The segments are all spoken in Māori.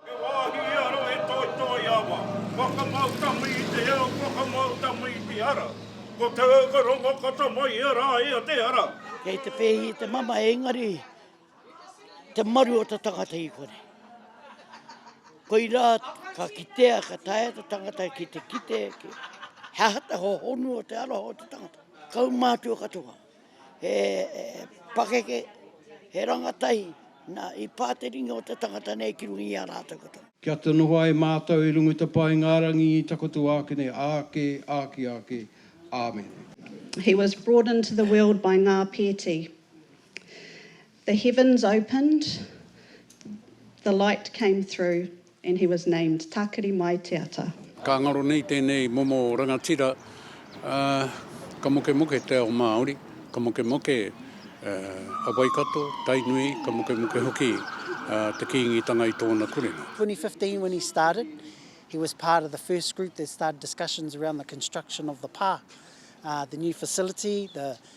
He wāhi i aro he toitoi awa, whakamau tangi i te ao, whakamau tangi i te ara. Ko te ao ka rongo ka tamaia rā ia te ara. Kei te pēhi i te mamae engari te maru o te tangata i kore. Koirā ka kitea ka taea te tangata ki te kite he aha te hohonu o te aroha o te tangata. Kaumātua katoa. He pakeke, he rangatahi, na, i pa te ringa o te tangata nei ki runga i a ratou katoa. Kia te noho ai mātou i runga i te paengarangi i takoto ākene āke, āki āke. Āmene. He was brought into the world by Ngā Pēti. The heavens opened, the light came through and he was named Tākiri Mai Te Ata. Ka ngaro nei tēnei momo rangatira, ā, ka mokemoke te ao Māori, ka mokemoke a Waikato, Tainui, ka mokemoke hoki te Kīngitanga i tōna kurenga. 2015 when he started, he was part of the first group that started discussions around the construction of the pā, the new facility, the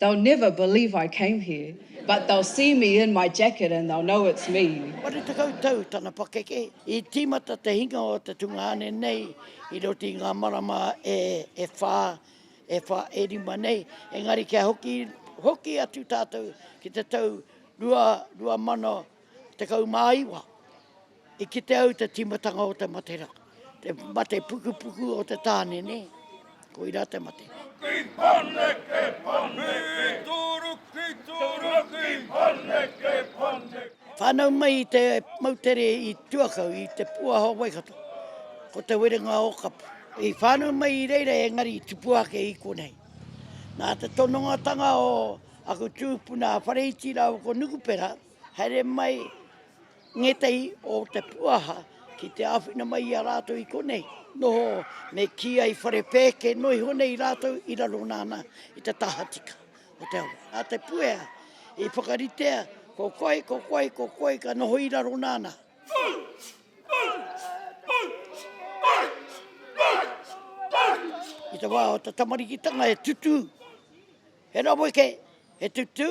They'll never believe I came here, but they'll see me in my jacket and they'll know it's me. Whare tekau tau tana pakeke, i tīmata te hinga o te tungāne nei i roto i ngā marama e whā, e whā, e rima nei, engari kia hoki, hoki atu tātou ki te tau 2019, I kite au te timatanga o te mate ra, te mate pukupuku o te tane ne, ko ira te mate. Ki Paneke, Paneke. Ki Toro, ki Toro, ki Paneke, Paneke. Whanau mai i te moutere i Tuakau, i te puaha o Waikato, ko Te Werenga o Kapu. I whanau mai i reira engari i tupua ake i konei. Na te tonongatanga o aku tupuna a Whareiti rawa ko Nukupera, haere mai Ngētehi o te puaha ki te āwhina mai i a rātou i konei, noho me kī ai whare pēke noa iho nei rātou i raro nāna i te tahatika o te awa. Nā te puea i whakaritea ko koe, ko koe, ko koe ka noho i raro nāna. I te wā o te tamarikitanga he tutū, he raweke, he tutū.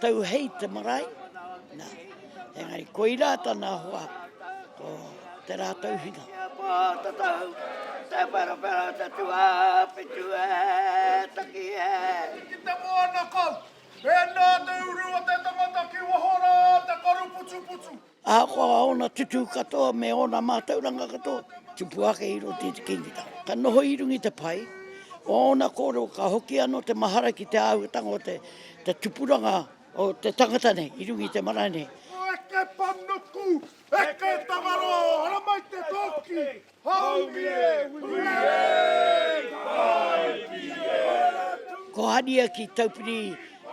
Tau hei te marae, nā, engari koirā tana hoa, ko Te Rātauhinga. Kia pā te tau, te wherawhera, te tuawhitu e, taki e. Ki te moana kau, e nā te uru o te tangata ki waho rā te karu putuputu. Ahakoa ōna tutū katoa me ōna mātauranga katoa, tupu ake i roto i te kingitanga. Ka noho i runga i te pai o ōna kōrero, ka hoki anō te mahara ki te āhuatanga o te tupuranga o te tangata nei i runga i te marae nei. Eke panuku, eke tangaroa, haramai te toki! Haumie hui e! Hae ki te. Ko Hania ki Taupiri,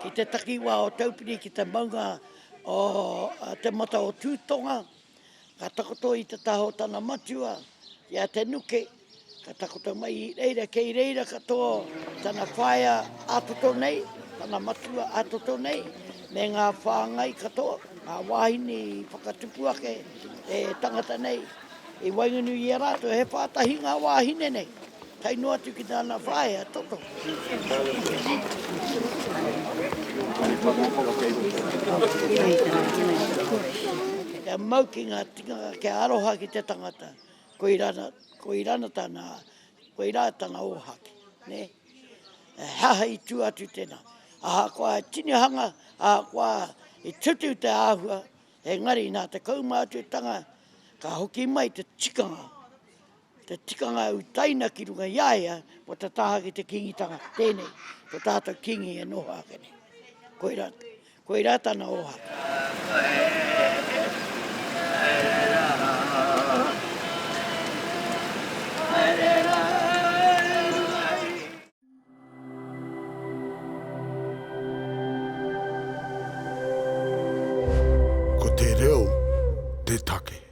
ki te takiwā o Taupiri, ki te maunga o Te Mata o Tūtonga. Ka takoto i te taha o tana matua, i a Te Nuke, ka takoto mai i reira, kei reira katoa tana whaea ā-toto nei, tana matua ā-toto nei, me ngā whāngai katoa, ngā wāhine i whakatupu ake e tangata nei. I waenganui i a rātou he pā tahi ngā wāhine nei, tae noa atu ki tāna whaea toto. Kia mau ki ngā tikanga, kia aroha ki te tangata, koirā, koirā tāna, koirā tana ōhaki, nē. He aha i tū atu tēnā? Ahakoa he tinihanga, ahakoa i tutu te āhua, Engari nā te kaumātuatanga ka hoki mai te tikanga, te tikanga i utaina ki runga i a ia kua tataha ki te Kīngitanga, tēnei, ko tātou Kīngi e noho ake nei. Koirā, koirā tana ohanga. Ko te reo te take.